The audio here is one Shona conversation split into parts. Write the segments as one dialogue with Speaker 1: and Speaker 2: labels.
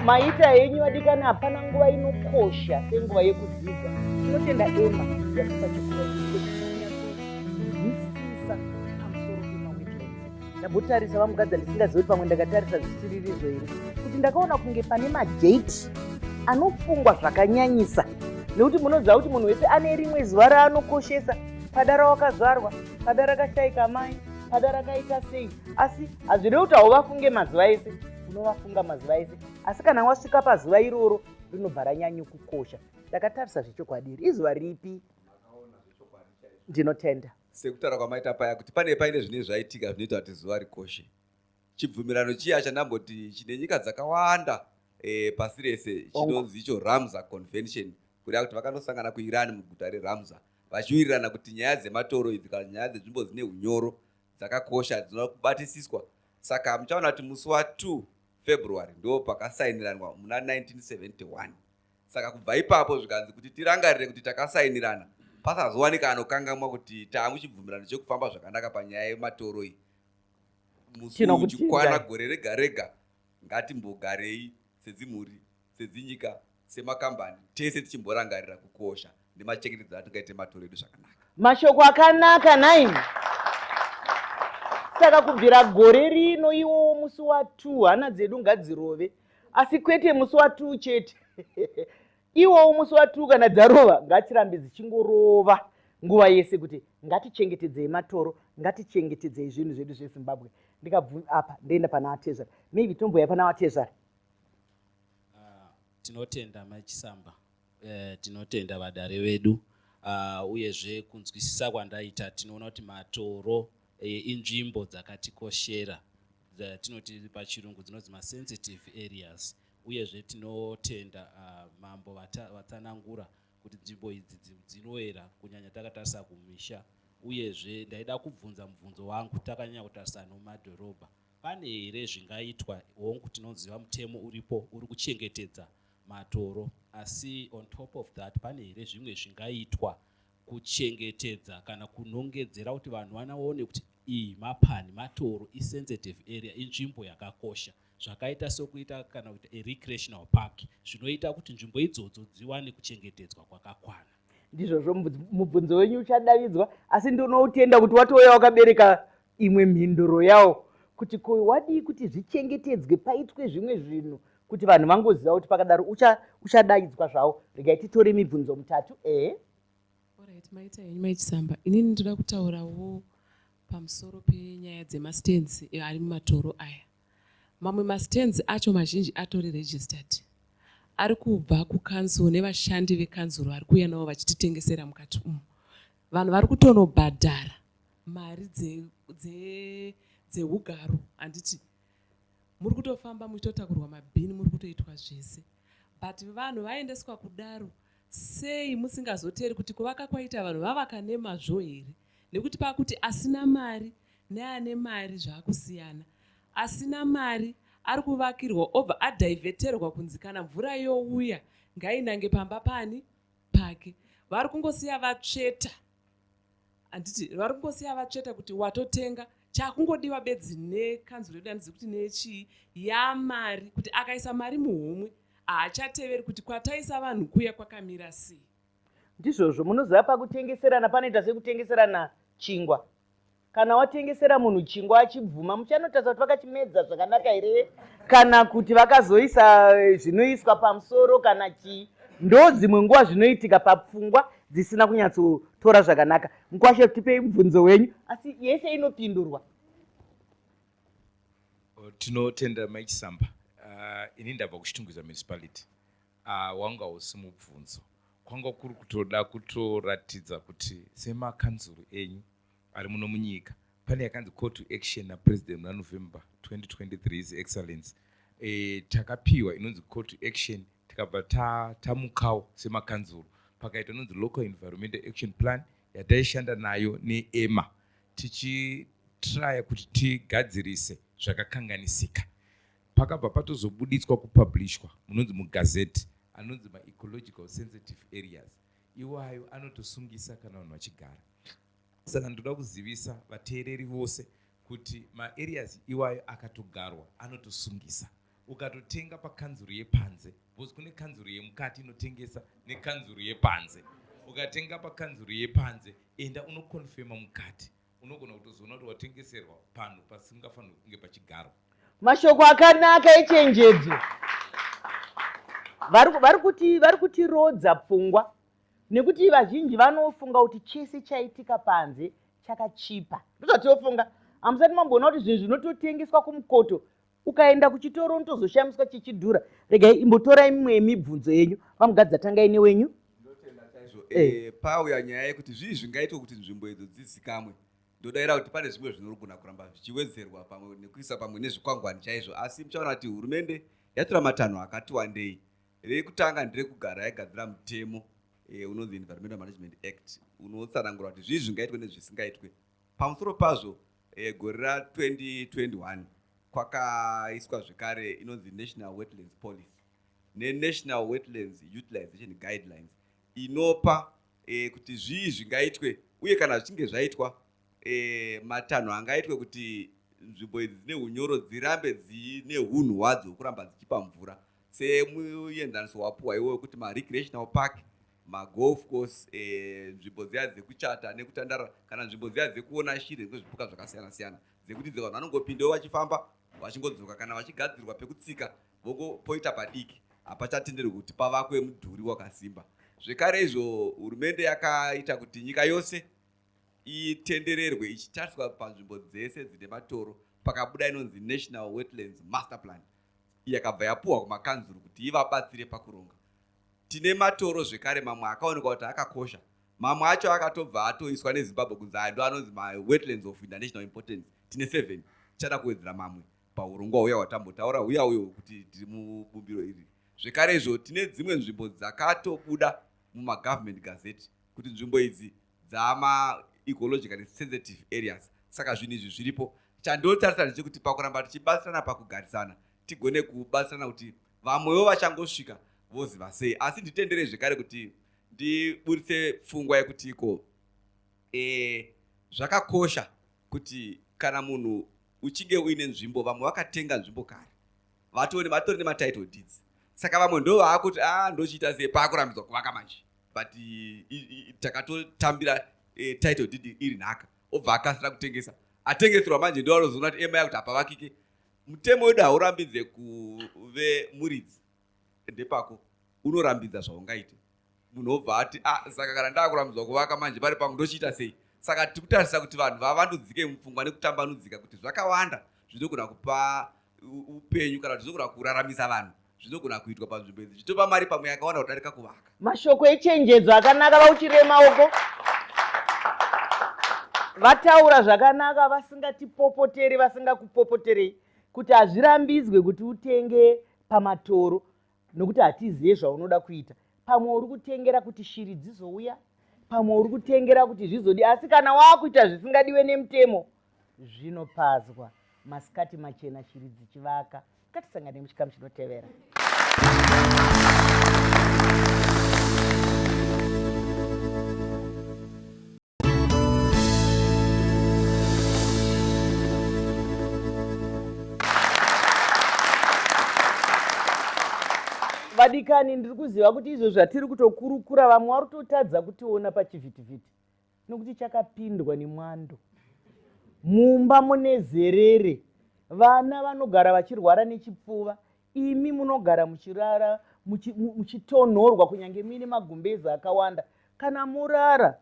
Speaker 1: maita henyu vadikani hapana nguva inokosha senguva yekudzidza tinotenda ema yatipa chikuaisisa pamusoro pemawetlense ndambotarisa vamugadza ndisingazivi kuti pamwe ndakatarisa zvisiririzo here kuti ndakaona kunge pane madheti anofungwa zvakanyanyisa nekuti munoziva kuti munhu wese ane rimwe zuva raanokoshesa padara wakazvarwa pada rakashaika amai pada rakaita sei asi hazviri kuti hauvafunge mazuva ese unovafunga mazuva ese asi kana wasvika pazuva iroro rinobva ranyanye kukosha ndakatarisa zvechokwadi iri izuva ripi ndinotenda sekutaura kwamaita paya
Speaker 2: kuti pane paine zvine zvaitika zvinoita kuti zuva rikoshe chibvumirano chiya chandamboti chine nyika dzakawanda e, pasi rese chinonzi icho ramza convention kuda kuti vakanosangana kuiran muguta reramza vachiwirirana kuti nyaya dzematoro idzi kana nyaya dzenzvimbo dzine unyoro dzakakosha dzinoda kubatisiswa saka muchaona kuti musi wa 2 february ndo pakasainiranwa muna 1971 saka kubva ipapo zvikanzi kuti tirangarire kuti takasainirana pasazowanika anokangamwa kuti taamuchibvumirano chekufamba zvakanaka panyaya yematoro iyi musi uchikwana gore rega rega ngatimbogarei sedzimhuri sedzinyika, semakambani, tese tichimborangarira kukosha nemachengetedzero atingaite matoro edu zvakanaka. Mashoko akanaka
Speaker 1: nhaimi. Saka kubvira gore rino iwowo musi wa 2 hana dzedu ngadzirove asi kwete musi wa 2 chete. Iwowo musi wa 2 kana dzarova ngadzirambe dzichingorova nguva yese kuti ngatichengetedzei matoro, ngatichengetedzei zvinhu zvedu zveZimbabwe. Ndikabvu apa ndoenda pana Atezvara. Maybe tomboya pana Atezvara.
Speaker 3: tinotenda mai chisamba eh, tinotenda vadare vedu uh, uyezve kunzwisisa kwandaita tinoona kuti matoro eh, inzvimbo dzakatikoshera tinoti pachirungu dzinonzi masensitive areas uyezve tinotenda uh, mambo vatsanangura kuti nzvimbo idzi dzinoera kunyanya takatarisa kumisha uyezve ndaida kubvunza mubvunzo wangu takanyanya kutarisa nomadhorobha Pane here zvingaitwa? Hongu tinoziva mutemo uripo uri kuchengetedza matoro asi on top of that pane here zvimwe zvingaitwa kuchengetedza kana kunongedzera kuti vanhu vanaone kuti iyi mapani matoro isensitive area inzvimbo yakakosha zvakaita sokuita kana kuita erecreational park zvinoita kuti nzvimbo idzodzo dziwane kuchengetedzwa kwakakwana ndizvozvo
Speaker 1: mubvunzo wenyu uchadavidzwa asi ndinoutenda kuti watouya wakabereka imwe mhinduro yawo kuti ko wadii kuti zvichengetedzwe paitwe zvimwe zvinhu kuti vanhu vangoziva kuti pakadaro uchadaidzwa ucha zvawo regai titore mibvunzo mutatu ehe
Speaker 4: orit maita henyu maichisamba inini ndoda kutaurawo pamusoro penyaya dzemastands eh, ari mumatoro aya mamwe mastands acho mazhinji atori registered ari kubva kukanzuro nevashandi vekanzuro vari kuuya navo vachititengesera mukati umu vanhu vari kutonobhadhara mari dzeugaro handiti muri kutofamba muchitotakurwa mabhini muri kutoitwa zvese but vanhu vaendeswa kudaro sei musingazoteri kuti kuvaka kwaita vanhu vavaka nemazvo here nekuti pakuti asina mari neane mari zvaakusiyana asina mari ari kuvakirwa obva adhivheterwa kunzi kana mvura youya ngainange pamba pani pake vari kungosiya vatsveta handiti vari kungosiya vatsveta kuti watotenga chakungodiwa bedzi nekanzuro yedu handizi kuti nechii yamari kuti akaisa mari muhomwe haachateveri kuti kwataisa vanhu kuya kwakamira sei ndizvozvo
Speaker 1: munoziva pakutengeserana panoita sekutengeserana chingwa kana watengesera munhu chingwa achibvuma muchanotarisa kuti vakachimedza zvakanaka here kana kuti vakazoisa eh, zvinoiswa pamusoro kana chii ndo dzimwe nguva zvinoitika papfungwa dzisina kunyatsotora zvakanaka mukwashe tipei mubvunzo wenyu asi yese inopindurwa
Speaker 5: oh, tinotenda maichisamba uh, ah, ini ndabva kuchitungwiza municipality uh, ah, wanga usi mubvunzo kwanga kuri kutoda kutoratidza kuti semakanzuru enyu ari muno munyika pane yakanzi call to action napresident muna november 2023 his excellence e, takapiwa inonzi call to action tikabva tamukawo ta semakanzuro pakaita inonzi local environmental action plan yataishanda nayo neema tichitraya kuti tigadzirise zvakakanganisika pakabva patozobuditswa kupublishwa munonzi mugazeti anonzi maecological sensitive areas iwayo anotosungisa kana vanhu vachigara Saka ndoda kuzivisa vateereri vose kuti maareas iwayo akatogarwa anotosungisa. Ukatotenga pakanzuru yepanze, because kune kanzuru yemukati inotengesa nekanzuru yepanze. Ukatenga pakanzuru yepanze, enda unokonfema mukati. Unogona kutozoona kuti watengeserwa panhu pasingafanirwi kunge pachigarwa. Mashoko
Speaker 1: akanaka echenjedzo. Vari kuti vari kutirodza pfungwa nekuti vazhinji vanofunga kuti chese chaitika panze chakachipa ndozvatiofunga hamusati mamboona kuti zvinhu zvinototengeswa kumukoto ukaenda kuchitoro unotozoshamiswa chichidhura regai imbotorai mimwe yemibvunzo yenyu vamugadza tangai newenyu eh. eh, pauya
Speaker 2: nyaya yekuti zvii zvingaitwa kuti nzvimbo idzo dzizikamwe ndodaira kuti pane zvimwe zvinogona kuramba zvichiwedzerwa pamwe nekuisa pamwe nezvikwangwani chaizvo asi muchaona kuti hurumende yatora matanho akati wandei Rekutanga ndirekugara yagadzira mutemo eh, unonzi Environmental Management Act unotsanangura kuti zvii zvingaitwe nezvisingaitwe. Pamusoro pazvo eh, gore ra 2021 kwakaiswa zvekare inonzi National Wetlands Policy neNational Wetlands Utilization Guidelines inopa eh, kuti zvii zvingaitwe uye kana zvichinge zvaitwa e, matanho angaitwe kuti nzvimbo idzi dzine unyoro dzirambe dzine hunhu hwadzo hwekuramba dzichipa mvura semuenzaniso wapuwa iwo wekuti marecreational park magolf course eh, nzvimbo e, dziya dzekuchata nekutandara kana nzvimbo dziya dzekuona shiri nekuzvipuka zvakasiyana siyana dzekuti dze vanhu vanongopindawo vachifamba vachingodzoka kana vachigadzirwa pekutsika vokopoita padiki hapachatenderwi kuti pavakwe mudhuri wakasimba zvekare izvo hurumende yakaita kuti nyika yose itendererwe ichitariswa panzvimbo dzese dzine matoro pakabuda inonzi national wetlands master plan yakabva yapuhwa kumakanzuru kuti ivabatsire pakuronga tine matoro zvekare mamwe akaonekwa kuti akakosha mamwe acho akatobva atoiswa nezimbabwe kunzi aya ndo anonzi mawetlands of international importance tine seven tichada kuwedzera mamwe paurongwa huya hwatambotaura huya uyo kuti tiri mubumbiro iri zvekare izvo tine dzimwe nzvimbo dzakatobuda mumagovernment gazette kuti nzvimbo idzi dzama ecologically sensitive areas saka zvinhu izvi zviripo chandotarisira ndechekuti pakuramba tichibatsirana pakugarisana tigone kubatsirana kuti vamwewo vachangosvika voziva sei asi nditendere zvekare kuti ndiburitse pfungwa yekuti iko e, zvakakosha kuti kana munhu uchinge uine nzvimbo vamwe vakatenga nzvimbo kare vatori vatori nematitle deeds saka vamwe ndo vaakuti a ah, ndochiita sei paakurambidzwa kuvaka manje but takatotambira eh, title deed iri nhaka obva akasira kutengesa atengeserwa manje ndo anozoona kuti ema yakuti hapavakike mutemo wedu haurambidze kuve muridzi ndepako unorambidza zvaungaite munhu obva ati a ah, saka kana ndaakurambidzwa kuvaka manje pari pangu ndochiita sei saka tiri kutarisa kuti vanhu vavandudzike mupfungwa nekutambanudzika kuti zvakawanda zvinogona kupa upenyu kana kuti zvinogona kuraramisa vanhu zvinogona kuitwa panzvimbo idzi zvitopa mari pamwe yakawanda kudarika kuvaka mashoko echenjedzo
Speaker 1: akanaka vauchirire maoko vataura zvakanaka vasingatipopoteri vasingakupopoterei kuti hazvirambidzwe kuti utenge pamatoro nokuti hatizive zvaunoda kuita pamwe uri kutengera kuti shiri dzizouya pamwe uri kutengera kuti zvizodi asi kana waakuita zvisingadiwe nemutemo zvinopazwa masikati machena shiri dzichivaka ngatisangane muchikamu chinotevera vadikani ndiri kuziva kuti izvo zvatiri kutokurukura vamwe wari kutotadza kutiona pachivhitivhiti nokuti chakapindwa nemwando mumba mune zerere vana vanogara vachirwara nechipfuva imi munogara muchirara muchitonhorwa kunyange muine magumbezi akawanda kana morara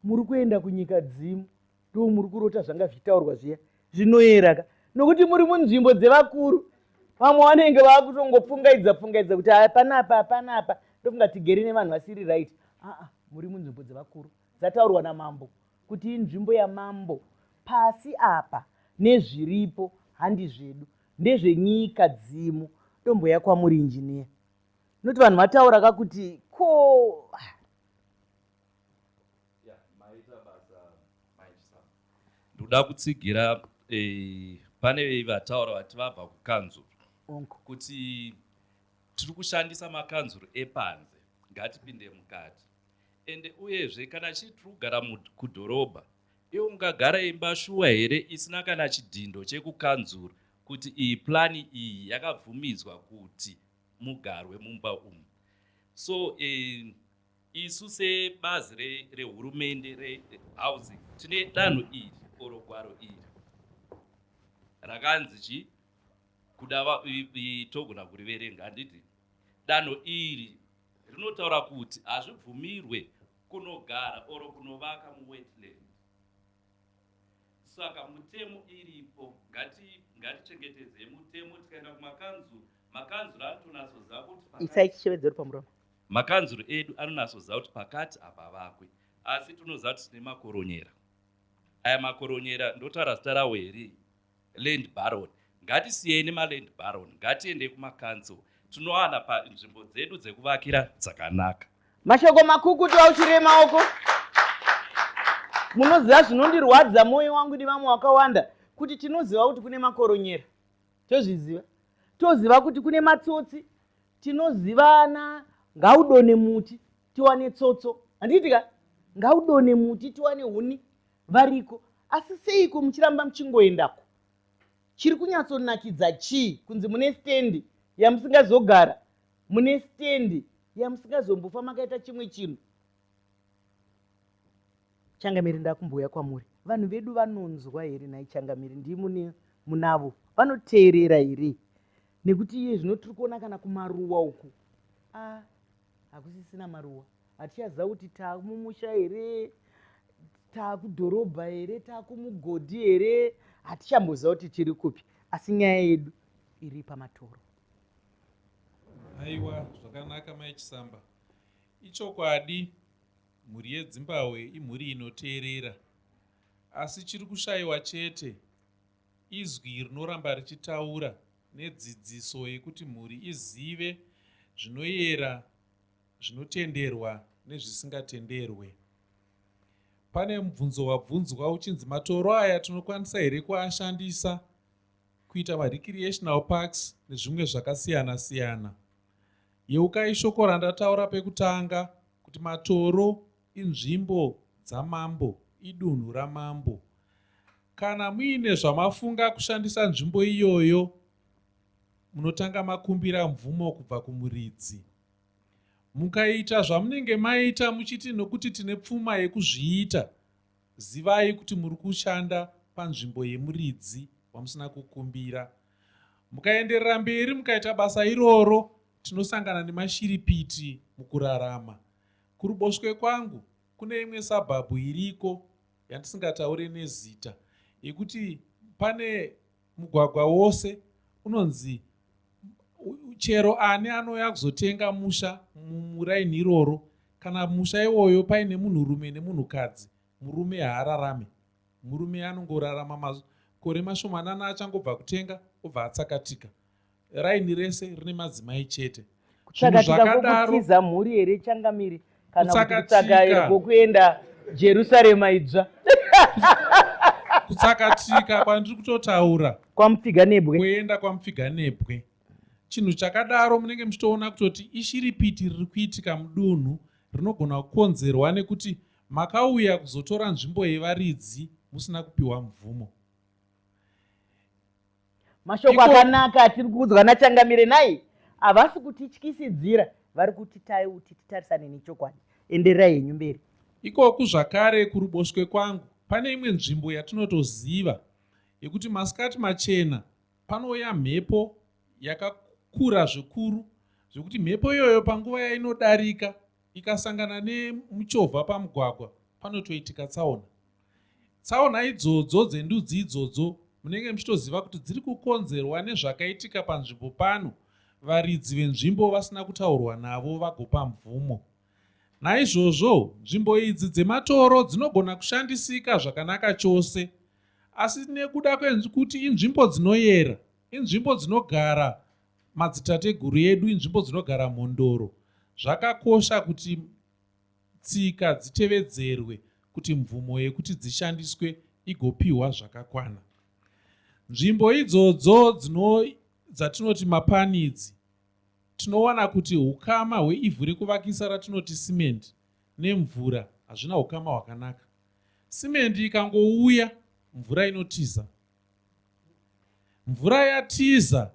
Speaker 1: muri kuenda kunyika dzimu ndo muri kurota zvanga zvichitaurwa zviya zvinoyeraka nokuti muri munzvimbo dzevakuru vamwe vanenge vakutongopfungaidza pfungaidza kuti hapana apa hapana apa ndofunga tigere nevanhu vasiri right aa muri munzvimbo dzevakuru dzataurwa namambo kuti inzvimbo yamambo pasi apa nezviripo handi zvedu ndezvenyika dzimu tomboya kwamuri injiniya noti vanhu vataura ka kuti ko
Speaker 6: ndoda kutsigira eh, pane vataura vati vabva kukanzuru kuti tiri kushandisa makanzuru epanze ngatipinde mukati ende uyezve kana chii tiri kugara kudhorobha Iwe ungagara imba shuwa here isina kana chidhindo chekukanzuru kuti iyi plan iyi yakabvumidzwa kuti mugarwe mumba umu. So eh, isu sebazi rehurumende re rehousing tine danho iri or gwaro iri rakanzi chi kuda togona kuriverenga handiti Danho iri rinotaura kuti hazvibvumirwe kunogara or kunovaka muwetland. Saka mutemo iripo ngati ngatichengetedzei mutemo tikaenda kumakanzuru makanzuru anotonatsoziva kuti pakati- isai chishevedzo uri pamuromo
Speaker 1: makanzuru edu
Speaker 6: anonatsoziva kuti pakati hapavakwe asi tinoziva kuti tine makoronyera aya makoronyera ndotaura zita rawo here Land baron ngatisiyei nemaland baron ngatiendei kumacouncil tinowana pa nzvimbo dzedu dzekuvakira dzakanaka. Mashoko
Speaker 1: makukutu auchirei maoko. Munoziva zvinondirwadza moyo wangu nevamwe wakawanda kuti tinoziva kuti kune makoronyera tozviziva toziva kuti kune matsotsi tinozivana ngaudone muti tiwane tsotso handiitika ngaudone muti tiwane huni Variko asi seiko muchiramba muchingoendako? Chiri kunyatsonakidza chii kunzi mune stendi yamusingazogara, mune stendi yamusingazombofa makaita chimwe chinhu? Changamire ndakumbouya kwamuri. Vanhu vedu vanonzwa here nhai Changamire ndii mune munavo vanoteerera here? Nekuti iye zvino tiri kuona kana kumaruwa uku. Ah, hakusisina maruwa hatichaziva kuti taamumusha here taakudhorobha here taakumugodhi here hatichamboziva kuti tiri kupi asi nyaya yedu iri pamatoro
Speaker 7: aiwa zvakanaka mai chisamba ichokwadi mhuri yedzimbahwe imhuri inoteerera asi chiri kushayiwa chete izwi rinoramba richitaura nedzidziso yekuti mhuri izive zvinoyera, zvinotenderwa nezvisingatenderwe. Pane mubvunzo wabvunzwa uchinzi matoro aya tinokwanisa here kuashandisa kuita marecreational parks nezvimwe zvakasiyana siyana. Yeukai shoko randataura pekutanga kuti matoro inzvimbo dzamambo, idunhu ramambo. Kana muine zvamafunga kushandisa nzvimbo iyoyo, munotanga makumbira mvumo kubva kumuridzi. Mukaita zvamunenge maita muchiti nokuti tine pfuma yekuzviita, zivai kuti muri kushanda panzvimbo yemuridzi wamusina kukumbira. Mukaenderera mberi mukaita basa iroro, tinosangana nemashiripiti mukurarama. Kuruboshwe kwangu kune imwe sabhabhu iriko yandisingataure nezita yekuti pane mugwagwa wose unonzi chero ani anouya kuzotenga musha muraini iroro kana musha iwoyo paine munhurume nemunhukadzi murume haararame murume anongorarama makore mashomanana achangobva kutenga obva atsakatika raini rese rine madzimai chete kutsakatikakokutsiza
Speaker 1: mhuri here changamire kana kutsaka kokuenda jerusarema idzva
Speaker 7: kutsakatika kwandiri kutotaura kwamupfiganebwe
Speaker 1: kuenda
Speaker 7: kwamupfiganebwe chinhu chakadaro munenge muchitoona kutoti ishiripiti riri kuitika mudunhu rinogona kukonzerwa nekuti makauya kuzotora nzvimbo yevaridzi musina kupiwa mvumo
Speaker 1: mashoko akanaka atiri kuudzwa nachangamire nhai havasi kutityisidzira vari kuti taiuti titarisane nechokwadi endererai henyu mberi ikoku zvakare
Speaker 7: kuruboshwe kwangu pane imwe nzvimbo yatinotoziva yekuti masikati machena panouya mhepo yakakura zvikuru zvekuti mhepo iyoyo panguva yainodarika ikasangana nemuchovha pamugwagwa panotoitika tsaona Tsaona idzodzo dzendudzi idzodzo munenge muchitoziva kuti dziri kukonzerwa nezvakaitika panzvimbo pano varidzi venzvimbo vasina kutaurwa navo vagopa mvumo. Naizvozvo nzvimbo idzi dzematoro dzinogona kushandisika zvakanaka chose asi nekuda kwekuti inzvimbo dzinoyera inzvimbo dzinogara madzitateguru edu inzvimbo dzinogara mhondoro zvakakosha kuti tsika dzitevedzerwe kuti mvumo yekuti dzishandiswe igopihwa zvakakwana. Nzvimbo idzodzo dzatinoti mapani idzi tinowana kuti ukama hweivhu rekuvakisa ratinoti simendi nemvura hazvina ukama hwakanaka. Simendi ikangouya mvura inotiza. Mvura yatiza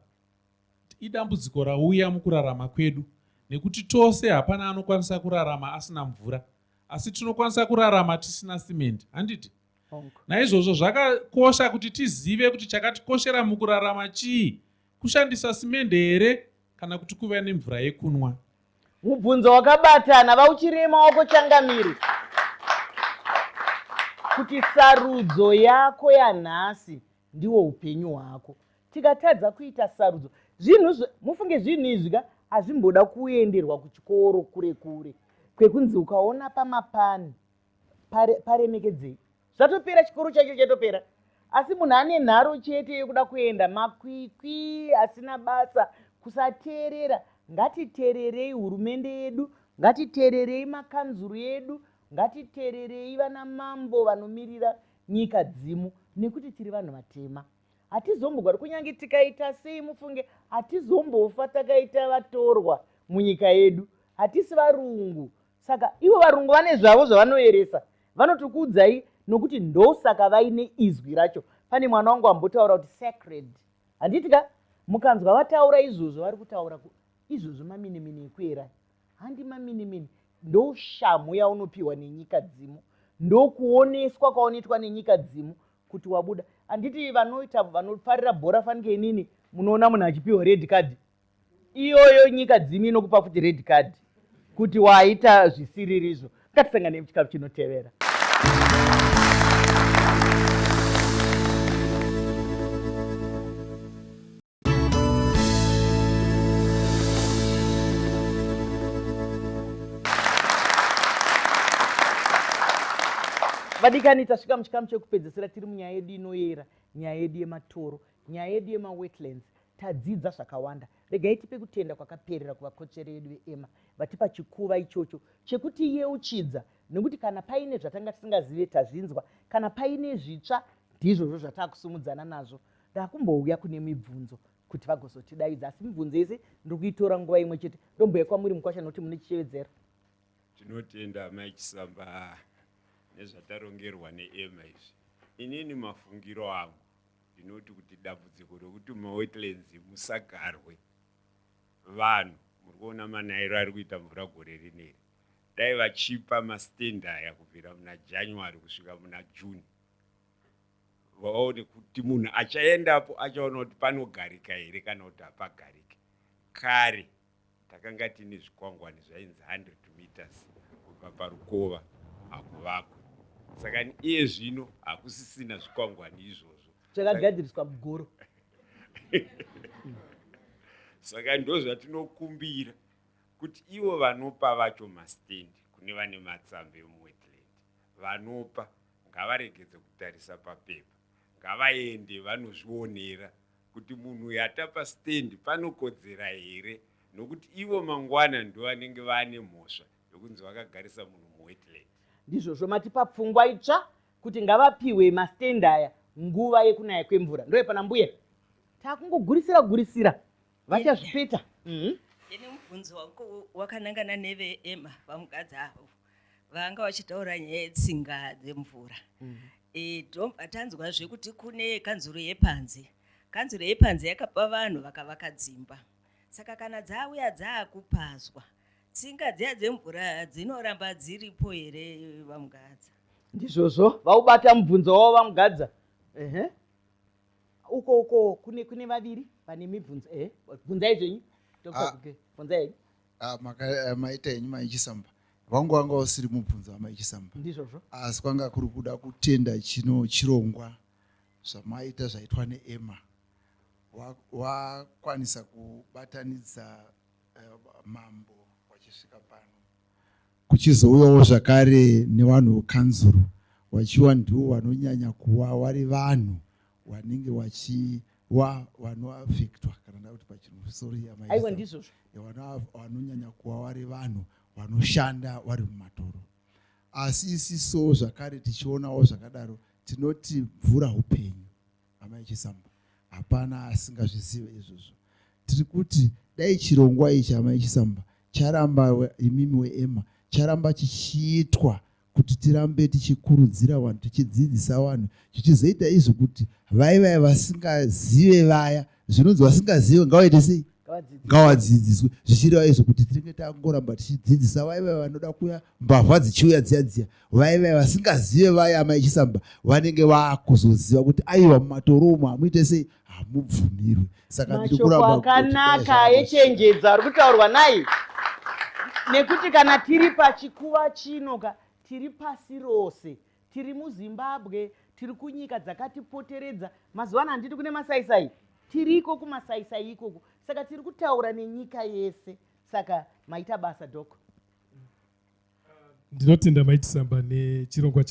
Speaker 7: Idambudziko rauya mukurarama kwedu nekuti tose hapana anokwanisa kurarama asina mvura asi tinokwanisa kurarama tisina simendi handiti naizvozvo zvakakosha kuti tizive kuti chakatikoshera mukurarama chii kushandisa simende here kana kuti kuva nemvura yekunwa mubvunzo
Speaker 1: wakabatana vauchirema wako changamire kuti sarudzo yako yanhasi ndiwo upenyu hwako tikatadza kuita sarudzo zvinhu mufunge zvinhu izvi ka hazvimboda kuenderwa kuchikoro kure kure kwekunzi ukaona pamapani paremekedzei zvatopera chikoro chacho chatopera asi munhu ane nharo chete yekuda kuenda makwikwi asina basa kusateerera ngatiteererei hurumende yedu ngatiteererei makanzuru edu ngatiteererei vana mambo vanomirira nyika dzimu nekuti tiri vanhu vatema hatizombogari kunyange tikaita sei mufunge hatizombofa takaita vatorwa munyika yedu hatisi varungu saka ivo varungu vane zvavo zvavanoeresa vanotokuudzai nokuti ndosaka vaine izwi racho pane mwana wangu ambotaura kuti sacred handiti ka mukanzwa vataura izvozvo vari kutaura izvozvo maminimini ekuera handi maminimini ndoshamhu yaunopiwa nenyika dzimu ndokuoneswa kwaunoitwa nenyika dzimu kuti wabuda handiti vanoita vanofarira bhora fanike inini munoona munhu achipiwa red card iyoyo nyika dzimu inokupa futi red card kuti waita zvisiririzvo ngatisangane muchikafu chinotevera vadikani tasvika muchikamu chekupedzesera tiri munyaya yedu inoyera nyaya yedu yematoro nyaya yedu yemawetlands tadzidza zvakawanda regai tipe kutenda kwakaperera kuvakotsveri vedu veema vatipa chikuva ichocho chekuti yeuchidza nekuti kana paine zvatanga tisingazive tazvinzwa kana paine zvitsva ndizvozvo zvataakusumudzana nazvo ndakumbouya kune mibvunzo kuti vagozotidaidza asi mibvunzo yese ndiri kuitora nguva imwe chete ndombuya kwamuri mukwasha nokuti mune chichevedzero tinotenda
Speaker 8: amai chisamba nezvatarongerwa neema izvi inini mafungiro angu ndinoti kuti dambudziko rekuti mawetlands musagarwe vanhu muri kuona manairo ari kuita mvura gore rineri dai vachipa mastand aya kubvira muna january kusvika muna june vaone kuti munhu achaendapo achaona kuti panogarika here kana kuti hapagarike kare takanga tine zvikwangwani zvainzi 100 meters kubva parukova hakuvakwe saka iye zvino hakusisina zvikwangwani izvozvo chakagadziriswa
Speaker 1: mugoro
Speaker 8: saka ndozvatinokumbira kuti ivo vanopa vacho mastendi kune vane matsambe muwetland Vanopa ngavaregedze kutarisa papepa ngavaende vanozvionera kuti munhu uyu atapa stand panokodzera here nokuti ivo mangwana ndovanenge vaane mhosva yokunzi vakagarisa munhu muwetland. Ndizvozvo matipa
Speaker 1: pfungwa itsva kuti ngavapihwe mastand aya nguva yekunaya kwemvura ndoyepana mbuya takungogurisira gurisira vachazvipeta mm. ndine
Speaker 9: mubvunzo wakanangana neveema vamukadzi avo vanga vachitaura nyaya yetsinga dzemvura mm. e, tanzwazve kuti kune kanzuro yepanze kanzuro yepanze yakapa vanhu vakavaka dzimba saka kana dzauya dzaakupazwa tsinga dziya dzemvura dzinoramba dziripo here vamugadza ndizvozvo
Speaker 1: vaubata mubvunzo wavo vamugadza ehe uh -huh. uko uko kune kune vaviri vane mibvunzo eh bvunzai zvenyu dr ah. guke bvunzai henyu ah,
Speaker 10: eh, maita henyu maichisamba wangu wanga usiri mubvunzo wamaichisamba ndizvozvo asi
Speaker 1: kwanga kuri
Speaker 10: kuda kutenda chino chirongwa zvamaita zvaitwa neema wakwanisa kubatanidza eh, mambo wachisvika pano Kuchizouyawo zvakare nevanhu vekanzuru vachiwa ndiwo vanonyanya kuwa vari vanhu vanenge vachiwa vanoafektwa kana ndakuti pachinhu sorry aiwa ndizvozvo
Speaker 1: vanonyanya
Speaker 10: kuwa vari vanhu vanoshanda vari mumatoro asi isiso zvakare tichionawo zvakadaro tinoti mvura upenyu amai chisamba hapana asingazvizive izvozvo tiri kuti dai chirongwa ichi amai chisamba charamba imimi weema charamba chichiitwa kuti tirambe tichikurudzira vanhu tichidzidzisa vanhu zvichizoita izvo kuti vai vaya vasingazive vaya zvinonzi vasingazive ngavaite sei ngawadzidziswe zvichireva izvo kuti tinenge tangoramba tichidzidzisa vaiva vanoda kuya mbavha dzichiuya dziya dziya vaive vasingazive vaya amai chisamba vanenge vakuzoziva kuti aiwa mumatoromo hamuite sei hamubvumirwe saka ndiri kurabakanaka
Speaker 1: yechenjedzo ari kutaurwa naye nekuti kana tiri pachikuva chino ka tiri pasi rose tiri muzimbabwe tiri kunyika dzakatipoteredza mazuva ano handiti kune masaisai tiri iko kumasaisai ikoko saka tiri kutaura nenyika yese saka maita basa doko
Speaker 11: ndinotenda maitisamba nechirongwa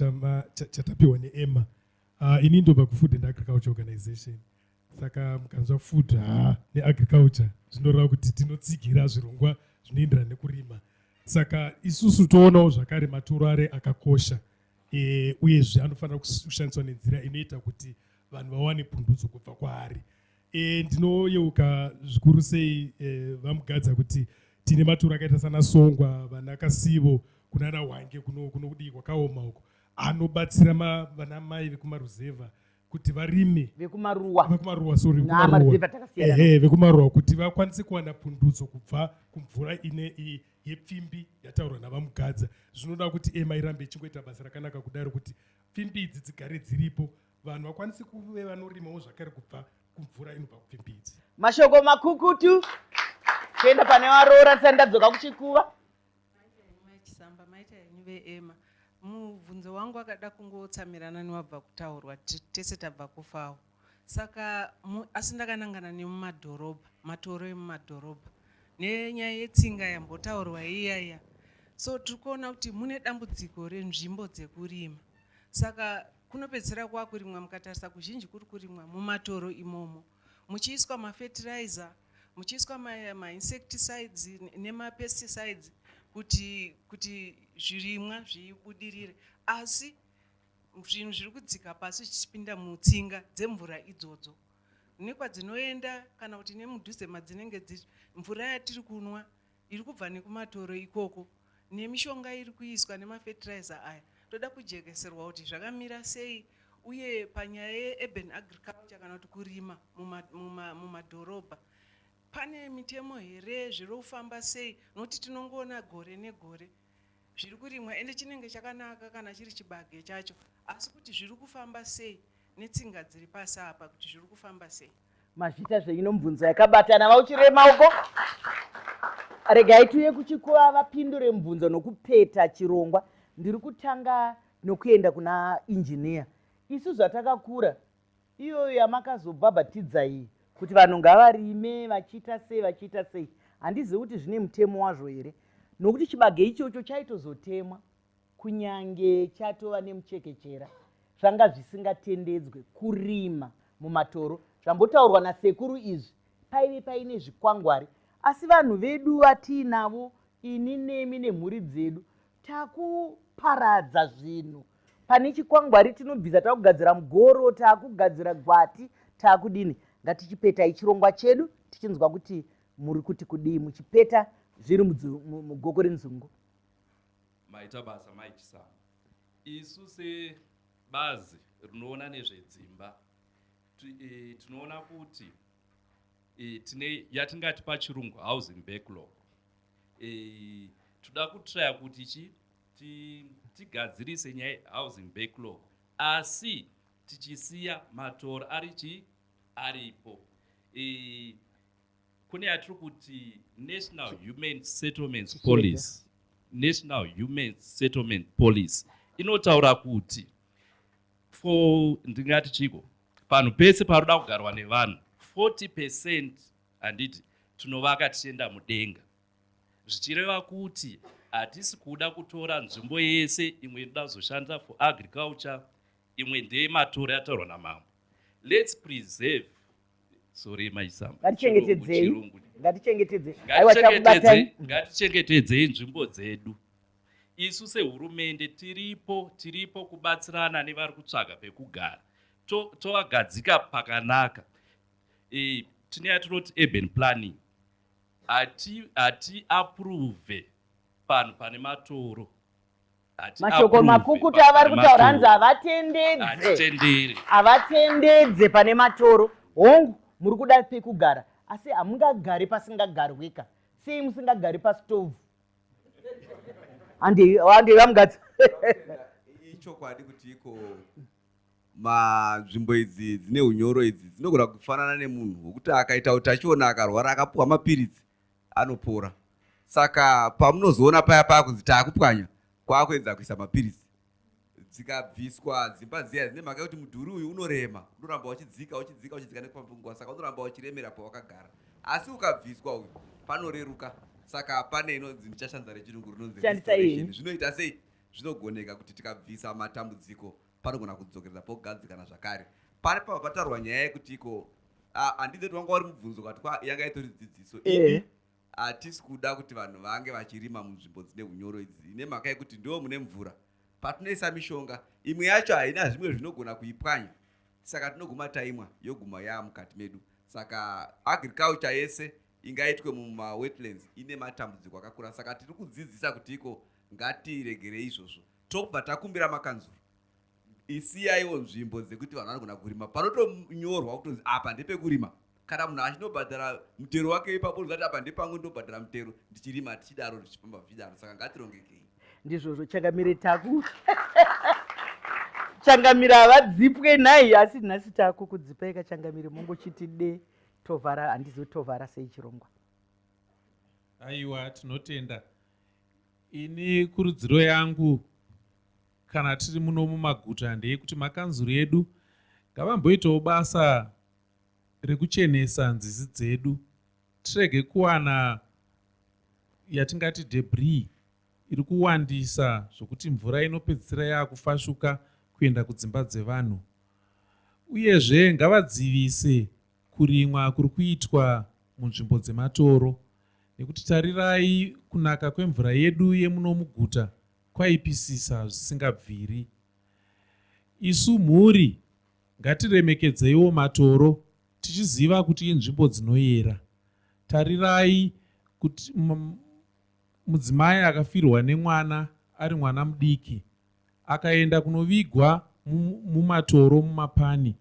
Speaker 11: chatapiwa neema uh, ah, ini ndobva kufood and agriculture organization saka mukanzwa food ha ah, neagriculture zvinoreva kuti tinotsigira zvirongwa zvinoenderana nekurima saka isusu toonawo zvakare maturo are akakosha e, uyezve anofanira kushandiswa nenzira inoita kuti vanhu vawane pundutso kubva kwaari e, ndinoyeuka zvikuru sei e, vamugadza kuti tine maturo akaita sana songwa vana kasivo kunana hwange kuno kudii kwakaoma uko anobatsira vana mai vekumaruzevha kuti varime vekumaruwa vekumaruwa sorry vekumaruwa ehe vekumaruwa kuti vakwanise kuwana pundutso kubva kumvura ine yepfimbi yataurwa navamugadza zvinoda kuti ema irambe ichingoita basa rakanaka kudaro kuti pfimbi idzi dzigare dziripo vanhu vakwanise kuve vanorimawo zvakare kubva kumvura inobva kupfimbidzi mashoko makukutu
Speaker 1: kuenda pane varoora tisati ndadzoka kuchikuva
Speaker 12: chisamba maita henyu veema mubvunzo wangu akada kungotsamirana newabva kutaurwa tese tabva kufawo saka asi ndakanangana nemumadhorobha matoro emumadhorobha nenyaya yetsinga yambotaurwa iya iya so tiri kuona kuti mune dambudziko renzvimbo dzekurima saka Kunopedzisira kwakurimwa mukatarisa kuzhinji kuri kurimwa mumatoro imomo muchiiswa mafertilizer muchiiswa mainsecticides nemapesticides kuti kuti zvirimwa zvibudirire asi zvinhu zviri kudzika pasi zvichipinda mutsinga dzemvura idzodzo nekwadzinoenda kana kuti nemudhuze madzinenge dziri mvura yatiri kunwa iri kubva nekumatoro ikoko nemishonga iri kuiswa nemafertilizer aya toda kujekeserwa kuti zvakamira sei uye panyaya yeurban agriculture kana kuti kurima mumadhorobha pane mitemo here zviri kufamba sei nokuti tinongoona gore negore zviri kurimwa ende chinenge chakanaka kana chiri chibage chacho asi kuti zviri kufamba sei netsinga dziri pasi apa kuti zviri kufamba sei mazvita zvenyino
Speaker 1: mubvunzo yakabatana vauchirire maoko regai tiuye kuchikuva vapindure mubvunzo nokupeta chirongwa ndiri kutanga nokuenda kuna injiniya isu zvatakakura iyoyo yamakazobhabhatidza iyi kuti vanhu ngavarime vachiita sei vachiita sei handizivi kuti zvine mutemo wazvo here nokuti chibage ichocho chaitozotemwa kunyange chatova nemuchekechera zvanga zvisingatendedzwe kurima mumatoro zvambotaurwa nasekuru izvi paive paine zvikwangwari asi vanhu vedu vatiinavo ini nemi nemhuri dzedu takuparadza zvinhu pane chikwangwari tinobvisa takugadzira mugoro takugadzira gwati takudini ngatichipeta ichirongwa chedu tichinzwa kuti muri kuti kudii muchipeta zviri mugoko renzungu
Speaker 6: Maita basa mai Chisamu. Isu sebazi rinoona nezvedzimba e, tinoona kuti e, tine yatingati pachirungu housing backlog e, toda kutraya kuti chi tigadzirise nyaya yehousing backlog asi tichisiya matoro ari chi aripo e, kune yatiri kuti national human settlements policy national human settlement policy inotaura kuti for ndingati chiko panhu pese paroda kugarwa nevanhu 40 percent handiti tinovaka tichienda mudenga zvichireva kuti hatisi kuda kutora nzvimbo yese imwe inoda kuzoshanda for agriculture imwe ndeye matoro yataurwa namambo lets preserve sorry mai zama ngatichengetedzei ngatichengetedze aiwa takubatai ngatichengetedzei nzvimbo dzedu isu sehurumende tiripo tiripo kubatsirana nevari kutsvaga pekugara tovagadzika to pakanaka e, tine yatinoti urban planning hati hati approve panhu pane matoro
Speaker 1: mashoko makukutu avari kutaura hanzi havatendedze havatendedze pane matoro hongu muri kuda pekugara asi hamungagari pasingagarwika sei musingagari pastovhu andevamukadzi
Speaker 2: ichokwadi kuti iko manzvimbo idzi dzine unyoro idzi dzinogona kufanana nemunhu wekuti akaita utachiona akarwara akapuwa mapiritsi anopora saka pamunozoona paya paya kunzi taakupwanya kwakuedza kuisa mapiritsi dzikabviswa dzimba dziya dzine mhaka yekuti mudhuri uyu unorema unoramba uchidzika uchidzika uchidzika nekupambunguva saka unoramba uchiremera pawakagara asi ukabviswa uyu panoreruka saka pane inonzi ndichashandisa rechirungu rinonzi zvinoita sei zvinogoneka kuti tikabvisa matambudziko panogona kudzokereza pogadzikana zvakare pari pava pataurwa nyaya yekuti iko handidze kuti wanga wari mubvunzo kati kwa yanga itori dzidziso ini hatisi kuda kuti vanhu vange vachirima munzvimbo dzine unyoro idzi ine mhaka yekuti ndiwo mune mvura patinoisa mishonga imwe yacho haina zvimwe zvinogona kuipwanya saka tinoguma taimwa yoguma yaa mukati medu saka agriculture yese ingaitwe mumawetlands ine matambudziko akakura saka tiri kudzidzisa kuti iko ngatiregerei izvozvo tobva takumbira makanzuru isiyaiwo nzvimbo dzekuti vanhu vanogona kurima panotonyorwa kutonzi apa ndepekurima kana munhu achinobhadhara mutero wake ipapo ndikati apa ndepangu ndinobhadhara mutero ndichirima tichidaro zvichifamba zvichidaro saka ngatirongekei ndizvozvo changamire taku changamire havadzipwe nhai asi nhasi taku kudzipai kachangamire mongochiti de tovhara handizivi tovhara sei chirongwa
Speaker 7: aiwa tinotenda Ini kurudziro yangu kana tiri muno mumaguta ndeyekuti makanzuru edu ngavamboitawo basa rekuchenesa nzizi dzedu tirege kuwana yatingati debris iri kuwandisa zvokuti mvura inopedzisira yaakufashuka kuenda kudzimba dzevanhu uyezve ngavadzivise kurimwa kuri kuitwa munzvimbo dzematoro nekuti tarirai kunaka kwemvura yedu yemuno muguta kwaipisisa zvisingabviri. Isu mhuri ngatiremekedzeiwo matoro tichiziva kuti inzvimbo dzinoyera. Tarirai kuti mudzimai akafirwa nemwana ari mwana mudiki Akaenda kunovigwa mumatoro mumapani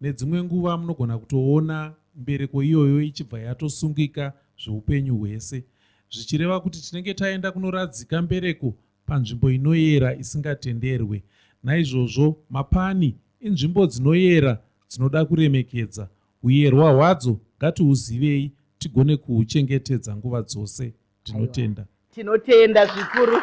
Speaker 7: nedzimwe nguva munogona kutoona mbereko iyoyo ichibva yatosungika zveupenyu hwese zvichireva kuti tinenge taenda kunoradzika mbereko panzvimbo inoyera isingatenderwe naizvozvo mapani inzvimbo dzinoyera dzinoda kuremekedza huyerwa hwadzo ngatiuzivei tigone kuhuchengetedza nguva dzose tinotenda tinotenda
Speaker 1: zvikuru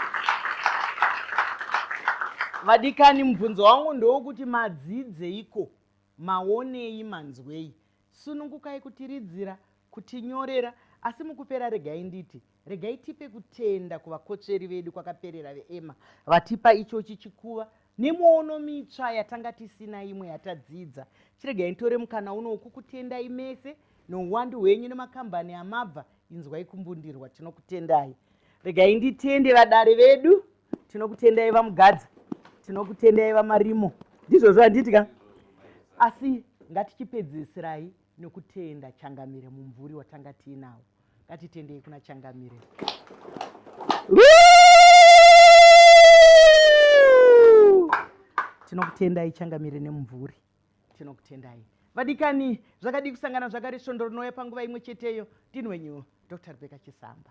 Speaker 1: vadikani mubvunzo wangu ndewokuti madzidzeiko maonei manzwei sunungukai kutiridzira kutinyorera asi mukupera regai nditi regai tipe kutenda kuvakotsveri vedu kwakaperera veema vatipa ichochi chikuva nemwono mitsva yatanga tisina imwe yatadzidza chiregai nditore mukana uno wokukutendai mese nouwandu hwenyu nemakambani amabva inzwai kumbundirwa tinokutendai regai nditende vadare vedu tinokutendai vamugadza tinokutendai vamarimo ndizvozvo handiti ka asi ngatichipedzisirai nokutenda changamire mumvuri watanga tiinawo ngatitendei kuna changamire tinokutendai changamire nemumvuri tinokutendai vadikani zvakadii kusangana zvakare svondo rinouya panguva imwe cheteyo ndini wenyu dr rebeka chisamba